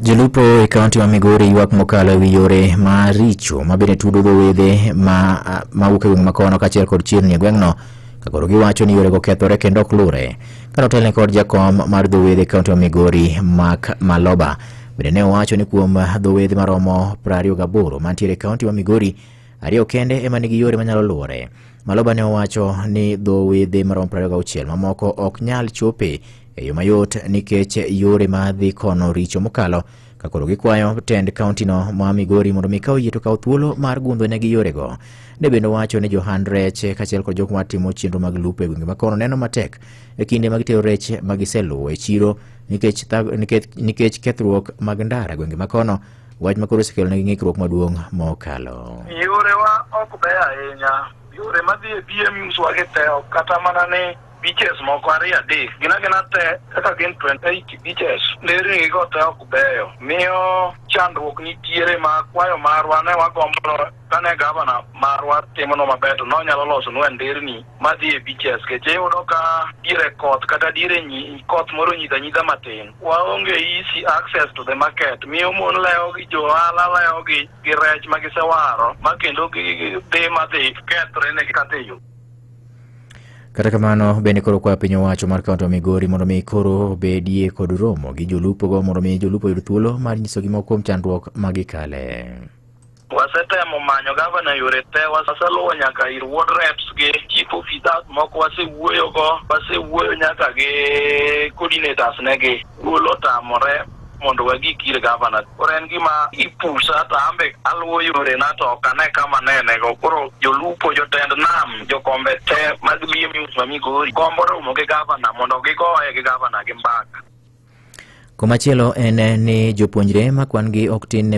Jolupo e kaunti ma Migori ywak mokalo e wi yore ma richo ma bende tudo dho wedhe ma ma wuok e gweng' makono kaachiel kod chirni e gweng'no ka koro giwacho ni yorego kethore kendo ok lure. Kane otelne kod jakom mar dho wedhe e kaunti ma Migori Mark Maloba bende ne owacho ni kuom dho wedhe maromo 28 mantiere e kaunti ma Migori, ariyo kende ema nigi yore manyalo luwore. Maloba ne owacho ni dho wedhe maromo 26 mamoko ok nyal chope e yo mayot nikech yore ma dhi kono richo mokalo ka koro gikwayo tend kauntino ma Migori mondo mi kaw yie to kaw thuolo mar gundho negi yorego. Ne bende owacho ni johand rech kaachiel kod jok matimo chenro mag lupo e gwenge ma kono neno matek e kinde ma gitero rech ma giseluwo e chiro nikech, thag- nikech, nikech kethruok mag ndara e gwenge ma kono wach ma koro osekelo negi ng'ikruok maduong' mokalo. yorewa ok beyo ahinya yore madhi e BMUs wagitewo kata mana ni beaches moko ariyo adek gin agina te kaka gin 28 beaches nderni go te ok beyo miyo chandruok nitiere ma kwayo marwa ne wagombo kane gavana marwa timono maber to nonyalo losonwa nderni madhi e beaches keche iyudo ka diere koth kata diere koth moro nyidha nyidha matin waonge easy access to the market miyo mon lewo gi jo ohala lewo gi gi rech ma gisewaro ma kendo dhi madhi kethre ne gikateyo Kata kamano, bende koro kwa piny owacho mar kaunti ma Migori mondo mi koro bedie kod romo gi jolupogo mondo mi jolupo yud thuolo mar nyiso gimoko kuom chandruok ma gikale. wasetemo manyo gavana yore te waseluwo nyaka ir ward reps gi chief officers moko wasewuoyogo wasewuoyo nyaka gi coordinators negi thuolo otamore mondo wagik ir gavana. Koro en gima ipusa to ambe aluwo yorena to ok ane kama anenego. Koro jolupo, jotend nam, jokombe te mag BMU ma Migori gombo romo gi gavana mondo gigoye gi gavana gi mbaka. Komachielo en ni jopuonjre ma kwan-gi ok tin ne